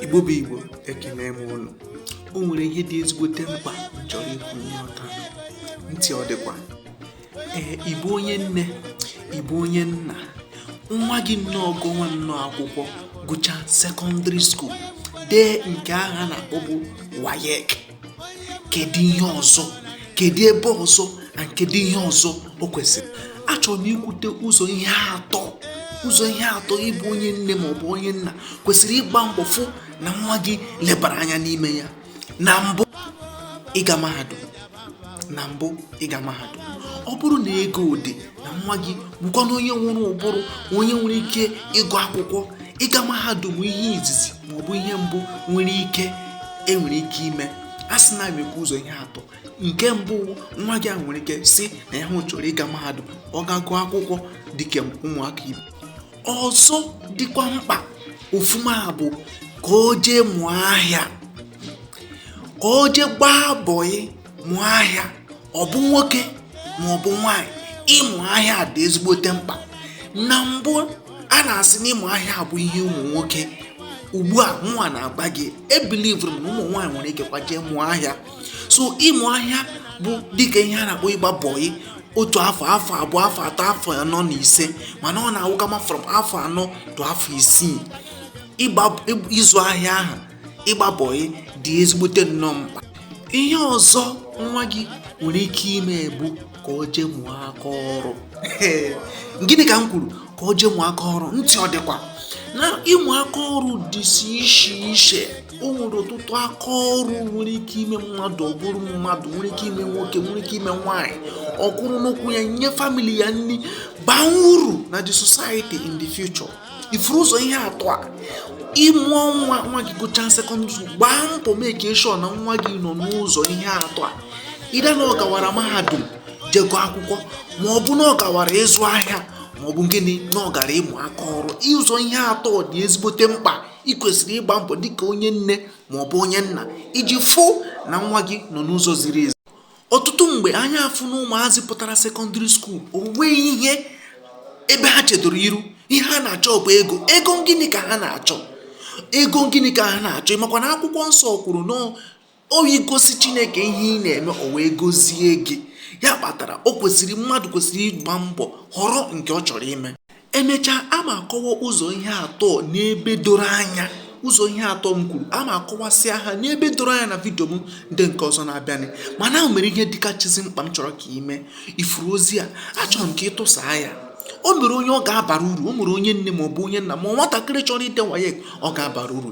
igbo bụ igbo ekene m unu o nwere ihe dị ezigbote mkpa m chọrọ ikwu n'ọta ntị ọ dịkwa ee ị bụ onye nne ị bụ onye nna nwa gị nnọọ gụọ nwa nnọọ akwụkwọ gụchaa secondary school dee nke ahụ a na-akpọbu waec kedu ihe ọzọ kedu ebe ọzọ na kedu ihe ọzọ o kwesịrị achọrọ m ikwute ụzọ ihe atọ ụzọ ihe atọ ị bụ onye nne ma ọ bụ onye nna kwesịrị ịgba mbọ fụ na nwa gị lebara anya n'ime ya na mbụ ịga mahadum na mbụ ịga mahadum ọ bụrụ na ego dị na nwa gị bụkwanụ onye nwere ụbụrụ onye nwere ike ịgụ akwụkwọ ịga mahadum ihe izizi ma ọ bụ ihe mbụ nwere ike e nwere ike ime a sị na ekwu ụzọ ihe atọ nke mbụ nwa gị a nwere ike sị na ya chọrọ ịga mahadum gaa gụọ akwụkwọ dịka ụmụaka ibe ọzọ dịkwa mkpa ọfụma bụ ka o jee mụọ ahịa ka o jee gbaa bọyị mụọ ahịa ọ bụ nwoke ma ọ bụ nwaanyị ịmụ ahịa dị ezigbote mkpa na mbụ a na-asị na ịmụ ahịa bụ ihe ụmụ nwoke ugbu a mụnwa na-agwa gị ebilivụrụ m na ụmụ nwaanyị nwere ikekwa jee mụọ ahịa so ịmụ ahịa bụ dịka ihe a na-akpọ ịgba bọyị otu afọ afọ abụọ afọ atọ afọ anọ na ise mana ọ na-awụkama from afọ anọ to afọ isii ịzụ ahịa ahụ ịgba bọị dị ezigbote nnọọ mkpa ihe ọzọ nwa gị nwere ike ime bụ ka o jee mụọ aka ọrụ gịnị ka m kwuru ka o jee mụọ aka ọrụ ntị ọ dịkwa na ịmụ aka ọrụ dịsi iche iche o nwere ọtụtụ aka ọrụ nwere ike ime mmadụ ọ bụrụ mmadụ nwere ike ime nwoke nwere ike ime nwaanyị ọ kwụrụ n'ụkwụ ya nye family ya nri baa uru na the society in the future ị fụrụ ụzọ ihe atọ a ị mụọ nwa nwa gị gụchaa secondary school gbaa mbọ make sure na nwa gị nọ n'ụzọ ihe atọ a either na ọ gawara mahadum jee gụọ akwụkwọ ma ọ bụ na ọ gawara ịzụ ahịa ma ọ bụ gịnị na ọ gara ịmụ aka ọrụ ụzọ ihe atọ dị ezigbote mkpa ị kwesịrị ịgba mbọ dịka onye nne ma ọ bụ onye nna iji fụ na nwa gị nọ n'ụzọ ziri ezi ọtụtụ mgbe anyị afụ na ụmụazị pụtara secondary school o nweghị ihe ebe ha chedoro iru ihe ha na-achọ bụ ego ego gịnị ka ha na-achọ ego gịnị ka ha na-achọ ị makwa na akwụkwọ nsọ kwuru na ọ bụ i gosi chineke ihe ị na-eme o wee gozie gị ya kpatara o kwesịrị mmadụ kwesịrị ịgba mbọ họrọ nke ọ chọrọ ime emechaa a ma akọwa ụzọ ihe atọ n'ebe doro anya ụzọ ihe atọ m kwuru a ma akọwasịa ha n'ebe doro anya na vidio m ndị nke ọzọ na-abịanị mana o nwere ihe dịkachizi mkpa m chọrọ ka i mee ị fụrụ ozi a achọrọ m ka ị tụsaa ya o nwere onye ọ ga-abara uru o nwere onye nne ma ọ bụ onye nna ma ọ nwatakịrị chọrọ ide waec ọ ga-abara uru